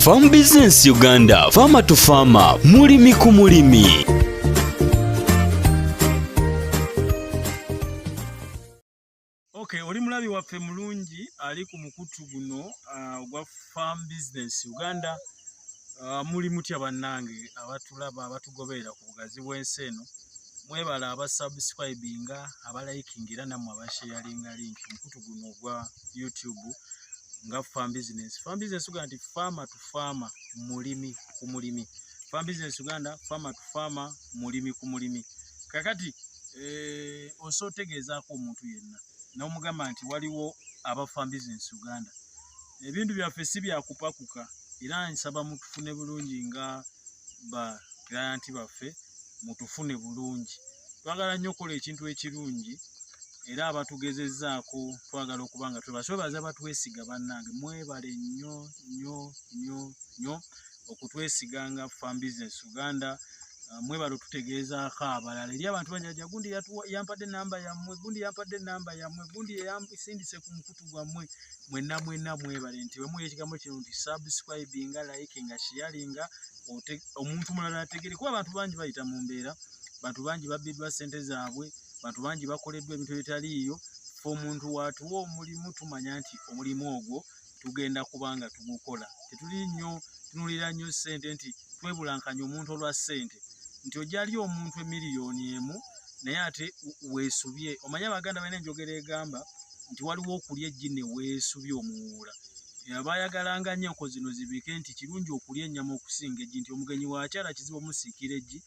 Farm Business Uganda, Farmer to Farmer, mulimi ku mulimi. Okay, oli mulabi waffe mulungi ali ku mukutu guno uh, ogwa uh, Farm Business Uganda uh, muli mutya bannange abatulaba abatugoberera ku bugazi bw'ensi eno mwebale abasubscribinga abalikinga era nammwe abasheyalinga link mukutu guno ogwa youtube nga farm business farm business uganda nti farmer to farmer mulimi ku mulimi farm business uganda farmer to farmer mulimi ku mulimi kakati eh, osa otegeezaako omuntu yenna n'omugamba nti waliwo aba farm business uganda ebintu byaffe si byakupakuka era nsaba mutufune bulungi nga ba client baffe mutufune bulungi twagala nnyo okukola ekintu ekirungi era abatugezezaako twagala okuba nga twebasobaza batwesiga bannange mwebale nnyo nnyo nnyo nnyo okutwesiga nga farm business uganda ah, mwebale otutegeezaako abalala eri abantu banyaja gundi yampadde enamba yammwe gundi yampadde enamba yammwe gundi yeyasindise ku mukutu gwammwe mwena mwena mwebale nti bwe muwulira ekigambo kino nti subscribinga likinga sharinga omuntu mulala ategere kuba abantu bangi bayita mu mbeera bantu bangi babbiddwa ssente zaabwe bantu bangi bakoleddwa ebintu ebitaliiyo fe omuntu waatuwa omulimu tumanya nti omulimu ogwo tugenda kuba nga tugukola tetuli nnyo tunulira nnyo ssente nti twebulankanya omuntu olwa ssente nti ojali omuntu emiliyoni emu naye ate weesubye omanye abaganda balina enjogera egamba nti waliwo okulya eggi ne weesubye omuwuula abayagalanga nnyo enko zino zibike nti kirungi okulya ennyama okusinga eggi nti omugenyi waakyala kizibu omusiikira eggi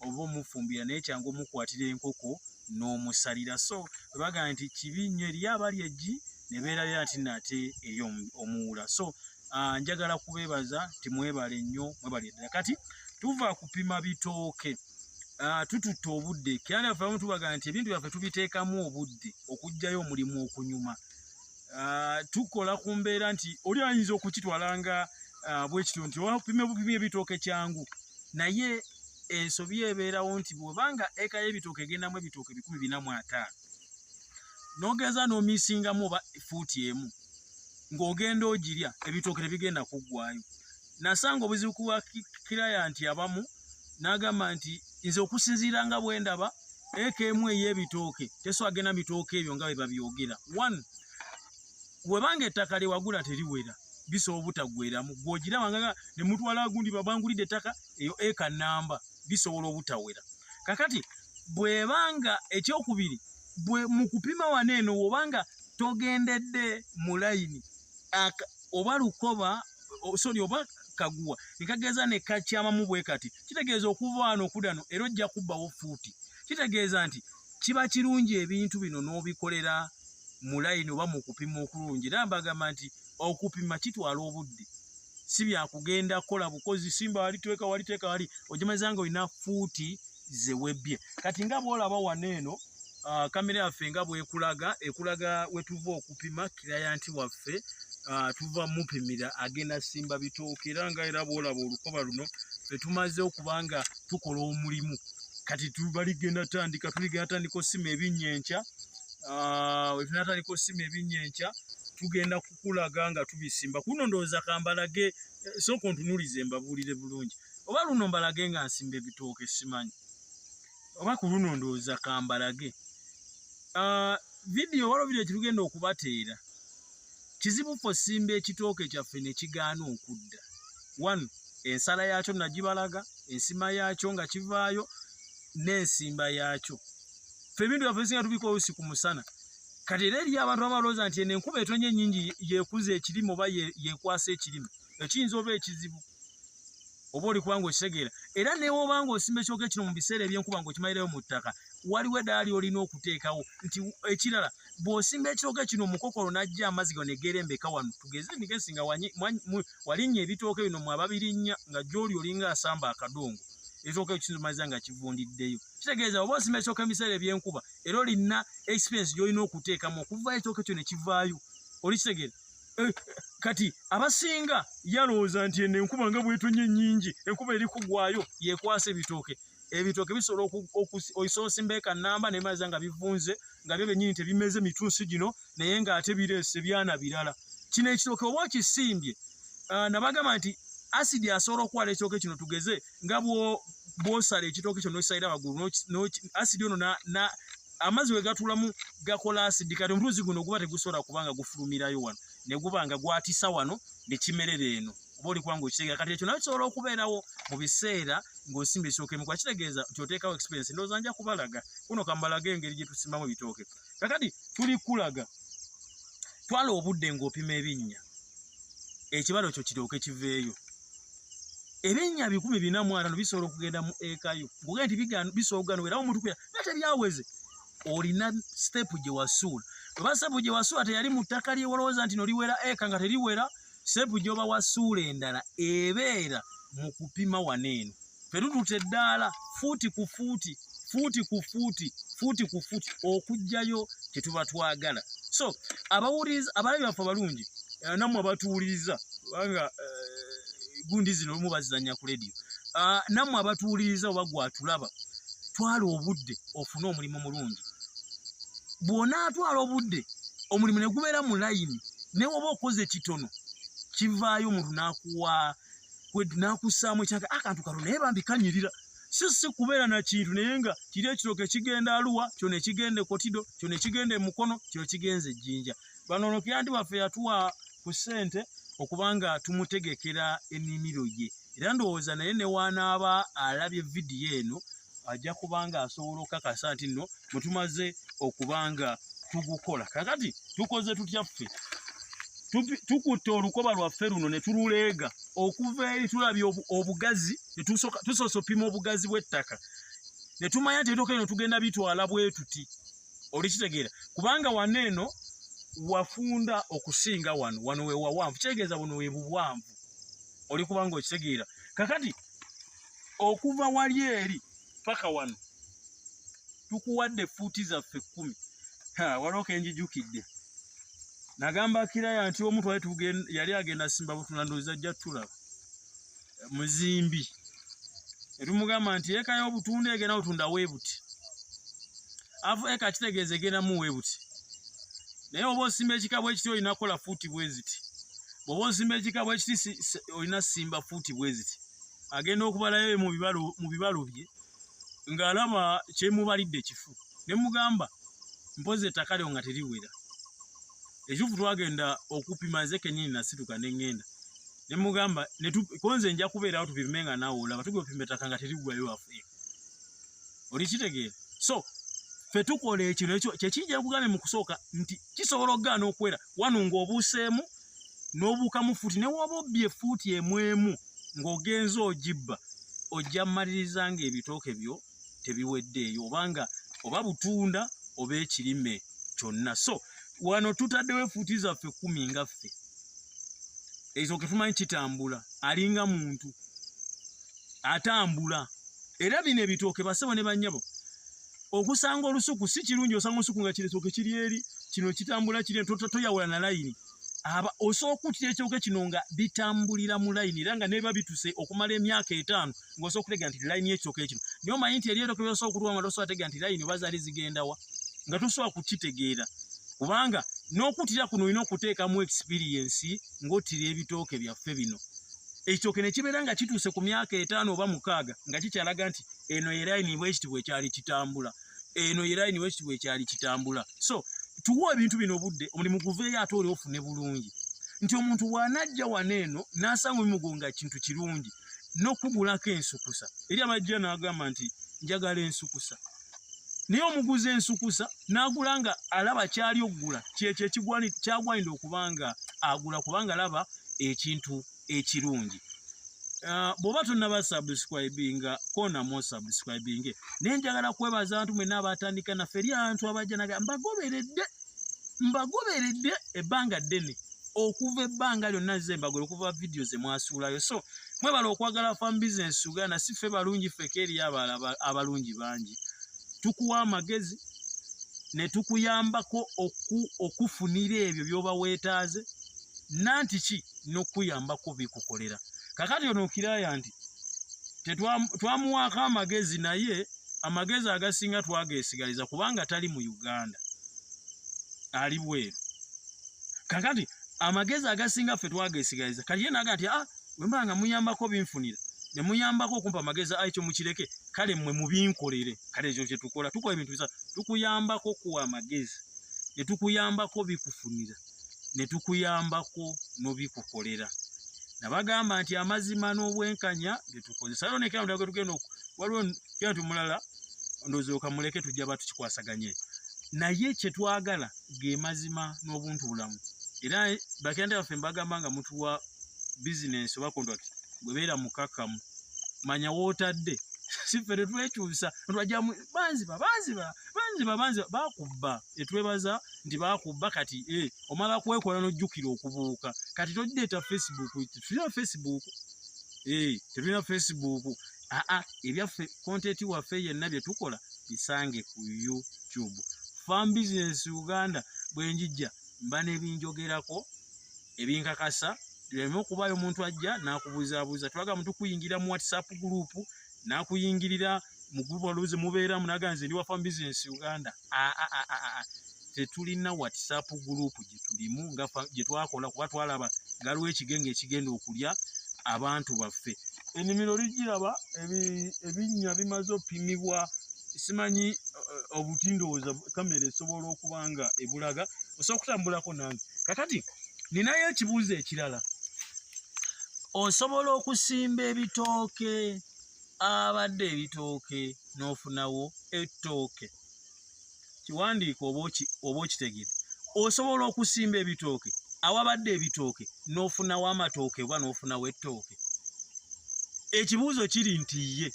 oba omufumbira naye kyangu omukwatira enkoko n'omusalira so bagamba nti kibi nnyo eriyo abali eggi ne beerabira nti nate eri omuwuula so ah, njagala kubeebaza nti mwebale nnyo mwebale ddala kati tuva kupima bitooke Ah, tututte obudde kera naffe abamu tubaga nti ebintu byaffe tubiteekamu obudde okugjayo omulimu okunyuma ah, tukola ku mbeera nti oli ayinza okukitwala nga ah, bwekityo nti opime bupimi ebitooke kyangu naye ensobi ebeerawo nti bwebanga eka y'ebitooke egendamu ebitooke bikumi bina mu ataano nogeza nomisingamu oba fuuti emu ng'ogenda ogirya ebitooke tebigenda kuggwayo nasanga obuzibu ku bakilayanti abamu n'agamba nti nze okusinziira nga bwe ndaba eka emu ey'ebitooke teswagena bitooke ebyo nga bwe babyogera one webanga ettaka lyewagula teriwera bisobola obutaggweramu gwogiraba nga ne mutwala gundi babangulidde ettaka eyo eka namba bisobola obutawera kakati bwebanga ekyokubiri bwe mu kupima wano eno wobanga togendedde mu layini oba lukoba sori oba kaguwa nekageeza ne kakyamamu bwe kati kitegeeza okuva wano okudano era ojja kubbawo fuuti kitegeeza nti kiba kirungi ebintu bino n'obikolera mu layini oba mu kupima okulungi era mbagamba nti okupima kitwala obudde si byakugenda kukola bukozi simba waliteeka waliteeka wali ogimazanga olina fuuti zewebbye kati nga bwolaba wano eno uh, kamera yaffe nga bwekulaga ekulaga wetuva okupima kirayanti waffe uh, tuva mupimira agenda simba bitooka era nga era bwolaba olukoba luno fetumaze okuba nga tukola omulimu kati tubaligenda tandika tuligenda tandika osima ebinya enkya uh, wetunatandika osima ebinya enkya tugenda kukulaga nga tubisimba kuno ndowooza kambalage eh, sooka ontunulize mbabuulire bulungi oba luno mbalage nga nsimba ebitooka esimanyi oba ku luno ndowooza kambalage ah, vidiyo wala ovidiyo kirugenda okubateera kizibu fe osimba ekitooke kyaffe ne kigaana okudda one ensala yaakyo nagibalaga ensima yaakyo nga kivaayo n'ensimba yaakyo fe ebintu byaffe bisinga tubika olusi ku musana kati era eriyo abantu abalowooza nti eno enkuba etonye ennyingi yekuza ekirime oba yekwasa ekirime ekiyinza oba ekizibu oba oli kubanga okitegeera era newobanga osimba ekyoka ekino mu biseera ebyenkuba nga okimalirayo mu ttaka waliwo edaali olina okuteekawo nti ekirala bw'osimba ekyoka kino mukokolo n'ajja amazzi gano negeerembeka wano tugeze emigezi nga walinnya ebitooke bino mwe ababirinnya nga gyoli olinga asamba akadongo ekyoka ekizimaliza nga kivundiddeyo kitegeeza oba osimba ekyoka ebiseera ebyenkuba era olina experience gy'olina okuteekamu okuvaayo ekyoka ekyo ne kivaayo olikitegeera Eh, kati abasinga yalowooza nti eno enkuba nga bwetonye nyingi enkuba eri kugwayo yekwasa ebitooke ebitooke bisobola oisoosimba eka namba nemaza nga bivunze nga byo benyini tebimeze mitunsi gino naye nga ate bireese byana birala kino ekitooke oba okisimbye ah, nabagamba nti asidi asobola okukwala ekitooke kino tugeze nga bwosala ekitooke kyo nokisalira waggulu asidi ono amazzi wegatulamu gakola asidi kati omuluzi guno guba tegusobola kubanga gufulumirayo wano neguba nga gwatisa wano nekimerera eno oba olikuba nga okitegera kati ekyo nayo kisobola okubeerawo mu biseera ng'osimba ekitooke mukuba kitegeeza nti oteekawo experience ndooza nja kubalaga kuno kambalaga engeri gye tusimamu ebitooke kakati tuli kulaga twala obudde ng'opima ebinnya ekibalo kyo kiryoke kiveeyo ebinnya bikumi bina mu atano bisobola okugenda mu ekayo ngogee nti bisooga nowera omuntu kuya naye tebyaweze olina sitepu gye wasuula oba sitepu gye wasuula teyali mu ttaka lyewolowooza nti noliwera eka nga teriwera sitepu gyoba wasuula endala ebeera mu kupima wano eno fetututa eddaala fuuti ku fuuti fuuti ku fuuti fuuti ku fuuti okujjayo kyetuba twagala so abawuliriza abaana byaffe abalungi eh, namwe abatuwuliriza kubanga eh, gundi zino olumu bazizanya ku lediyo ah, namwe abatuwuliriza oba gwatulaba twala obudde ofune omulimu mulungi bwonaatwala obudde omulimu negubeera mu layini newoba okoze kitono kivaayo omuntu nakuwa nakusaamu ekyange akantu ah, kano naye bambi kanyirira si si kubeera na kintu naye nga kiri ekitoka ekigenda aluwa kyo nekigenda ekotido kyo nekigenda emukono kyo kigenza ejjinja bano ono kyanti waffe yatuwa ku ssente okubanga tumutegekera enimiro ye era ndowooza naye newanaaba alabye vidiyo eno ajja kubanga asobola okukakasa nti nno bwe tumaze okubanga tugukola kakati tukoze tutya ffe tukutte olukoba lwaffe luno ne tululeega okuva eri tulabye obugazi tusoose opima obugazi bw'ettaka ne tumanya nti ebitoka eno tugenda bitwala bwetuti olikitegeera kubanga wano eno wafunda okusinga wano wano wewawanvu kitegeeza buno webuwanvu oli kubanga okitegeera kakati okuva wali eri paka wano tukuwadde fuuti zaffe kkumi waliwo kenjijukidde nagamba kiraya nti omu twali yali agenda simba butuna ndoozi ajja tulaba muzimbi etumugamba nti eka y'obutunda egenda otunda weebuti afu eka kitegeeza egendamu weebuti naye oba osimba ekika bwekiti olina kukola fuuti bweziti bwoba osimba ekika bwekiti olina simba fuuti bweziti agenda okubalayo mu bibalo mu bibalo bye ng'alaba kyemubalidde kifu ne mugamba mpozi ettaka lyo nga teriwera ekituufu twagenda okupima nze kenyini nasituka ne ŋŋenda ne mugamba konze nja kubeerawo tupime nga naawe olaba tugenda opima ettaka nga teriggwayo afe oli kitegeera so ffe tukola ekyo nekyo kyekijja kugambye mu kusooka nti kisobola okugaana okuwera wano ng'obuuseemu n'obuukamu fuuti ne waba obbye fuuti emu emu ng'ogenze ogibba ojja mmaliriza ng'ebitooke byo tebiweddeeyo oba nga oba butunda oba ekirime kyonna so wano tutaddewo efuuti zaffe kumi nga ffe ezo ke tumanyi kitambula alinga muntu atambula era bino ebitooke basebo ne bannyabo okusanga olusuku si kirungi osanga olusuku nga kiresoke kiri eri kino kitambula kiri tota toyawula na layini aba osooka okutira ekyoke kino nga bitambulira mu layini era nga neba bituse okumala emyaka etaano ng'osobola okutega nti layini y'ekyoke kino naye omanyi nti eryeroke byosobola okutuwa nga tosobola tega nti layini oba zaali zigendawa nga tosobola kukitegeera kubanga n'okutira kuno olina okuteekamu ekisipiriyensi ng'otira ebitooke byaffe bino ekyoke ne kibeera nga kituuse ku myaka etaano oba mukaaga nga kikyalaga nti eno yeraini bwekiti bwekyali kitambula eno yeraini bwekiti bwekyali kitambula so tuwa ebintu bino obudde omulimu guveeyo ate oli ofune bulungi nti omuntu wanajja wano eno nasanga omugo nga kintu kirungi nokugulako ensukusa eri abajja nagamba nti njagala ensukusa naye omuguzi ensukusa nagula nga alaba kyali okugula kyekyo ekigwani kyagwanidde okubanga agula kubanga alaba ekintu eh, ekirungi Uh, bwoba tonaba subscribinga konamo subscribinge naye njagala kwebaza abantu mwena abatandika naffe eri abantu abajja naga mbagoberedde mbagoberedde ebbanga ddene okuva ebbanga lyonna ze mbagole okuva vidiyo ze mwasuulayo so mwebala okwagala fam bisinesi uganda si ffe balungi feke eriyo abala abalungi bangi tukuwa amagezi ne tukuyambako okufunira ebyo byoba weetaaze nanti ki nokuyambako bikukolera kakati ono okiraya nti twamuwaako amagezi naye amagezi agasinga twagesigaliza kubanga tali mu uganda ali bweru kakati amagezi agasinga ffe twagesigaliza kati ye naga nti a ah, wemba nga muyambako binfunira ne muyambako okumpa amagezi ayi kyo mukireke kale mmwe mubinkolere kale ekyo kye tukola tukola ebintu bisa tukuyambako kuwa amagezi ne tukuyambako bikufunira ne tukuyambako n'obikukolera nabagamba nti amazima n'obwenkanya byetukozesa yo nekera mutaka tugenda oku waliwo kira nti mulala ndozooka muleke tujja ba tukikwasaganye naye kye twagala ge mazima n'obuntu bulamu era bakenda baffe mbagamba nga mutuwa bizinensi oba kontrakiti gwebeera mukakkamu manya wootadde siffe tetwekyusa nti wajja banziba banziba banziba banziba bakubba etwebaza nti bakubba kati eh, omala kwekola nojjukira okubuuka kati togireeta facebook tetulina facebook eh, tetulina facebook aa ah, ah, ebyaffe kontenti waffe yenna bye tukola bisange ku youtube farm business uganda bwenjijja mba nebinjogerako ebinkakasa leme okubayo omuntu ajja nakubuzabuza twaga muntu kuyingira mu whatsapp group nakuyingirira mu group oluzi mubeeramu naga nze ndi wa farm business uganda tetulina whatsapp group gyetulimu nga gyetwakola kuba twalaba galiwo ekigenge ekigenda okulya abantu baffe enimiro ligiraba ebinnya bimaze opimibwa simanyi eh, eh, obuti ndowooza kamera esobola okuba nga ebulaga osobola okutambulako nange kakati ninayo ekibuuzo ekirala osobola okusimba ebitooke abadde ebitooke n'ofunawo ettooke kiwandiika oba okitegede osobola okusimba ebitooke awabadde ebitooke n'ofunawo amatooke oba n'ofunawo ettooke ekibuuzo kiri nti ye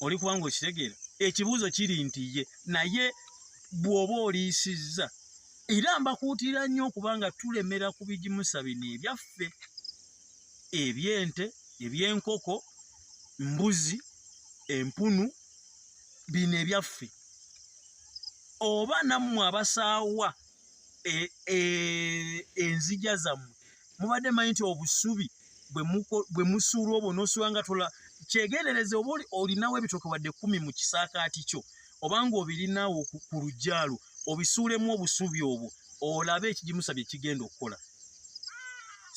oli kubanga okitegeera ekibuuzo kiri nti ye naye bw'oba oliisizza era mbakuutira nnyo okubanga tulemera ku bigimusa bino ebyaffe ebyente ebyenkoko mbuzi empunu bino ebyaffe oba nammwe abasaawa e, e, enzija zammwe mubadde manyi nti obusubi bwe musuula obwo nosuula nga tola kyegendereze oba olinawo ebitoke wadde kumi mu kisaakaati kyo obanga obirinawo ku lujjalo obisuulemu obusubi obwo olabe ekigimusa bye kigenda okukola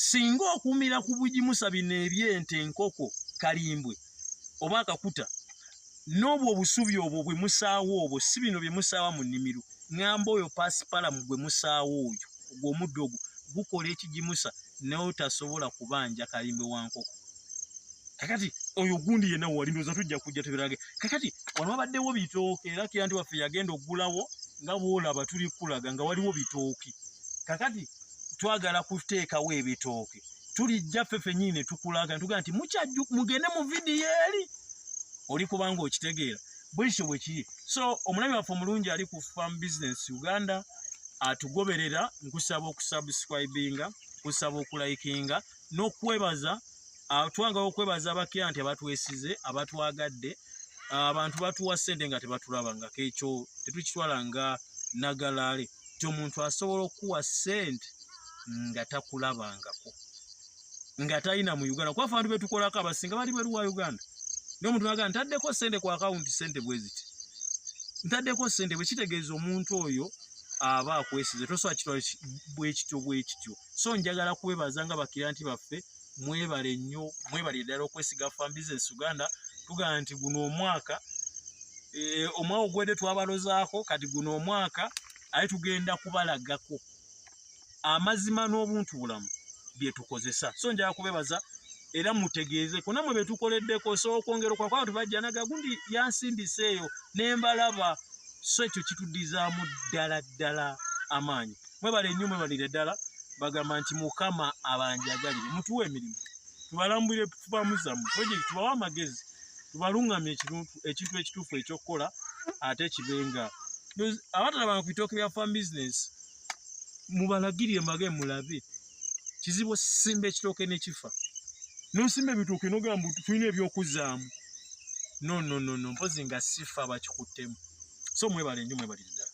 singa okumira ku bugimusa bino ebyente enkoko kalimbwe oba akakuta n'obwo obusubi obwo bwe musaawo obwo si bino bye musaawa mu nnimiro ŋamba oyo pasipalamu gwe musaawo oyo ogwo omuddo ogwo gukola ekigimusa naye otasobola kubanja kalimbwe wa nkoko kakati oyo gundi yenna wali ndoza tujja kujja tubirage kakati wano wabaddewo bitooke era kira nti waffe yagenda okugulawo nga bwolaba tuli kulaga nga waliwo bitooke kakati twagala kuteekawo ebitooke tulijja ffe fenyini ne tukulaga netugaa nti mukyajju mugende mu vidiyo eri oli kubanga okitegeera bwekityo bwe kiri so omulabi waffe omulungi ali ku farm business uganda atugoberera nkusaba okusubscribinga nkusaba okulayikinga n'okwebaza ah, twangala okwebaza abakira nti abatwesize abatwagadde ah, abantu batuwa ssente nga tebatulaba nga kekyo tetukitwala nga nagalaale ti omuntu asobola okukuwa ssente nga takulabangako nga talina mu uganda kuba fantu betukolako abasinga bali bweru wa uganda naye omuntu naga ntaddeko ssente ku akawunti ssente bweziti ntaddeko ssente bwekitegeeza omuntu oyo aba akwesize tosobola kitwala bwekityo bwekityo so njagala kwebaza nga bakiranti baffe mwebale nnyo mwebale ddala okwesiga fan business uganda tugamba nti guno omwaka e, omwaka ogwedde twabalozaako kati guno omwaka aye tugenda kubalagako amazima n'obuntu bulamu byetukozesa so njala kubebaza era mutegeeze kunamwe betukoleddeko so okwongera okwako abantu bajja naga gundi yansindisa eyo nembalaba so ekyo kitudizaamu ddala ddala amaanyi mwebale nnyo mwebalire ddala bagamba nti mukama abanjagalire mutuwa emirimu tubalambulire tubamu zamu project tubawe amagezi tubalungamye ekintu ekituufu ekyokukola ate kibenga abatalabanga ku bitooke bya farm business mubalagirire mbage mulabe kizibu osimba ekitooke nekifa nosimba ebitooke nogamba tulina ebyokuzaamu nononono mpozi nga sifa bakikuttemu so mwebale nnyo mwebalire ddala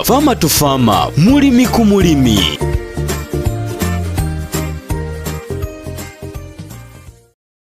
Farmer to Farmer, mulimi ku mulimi.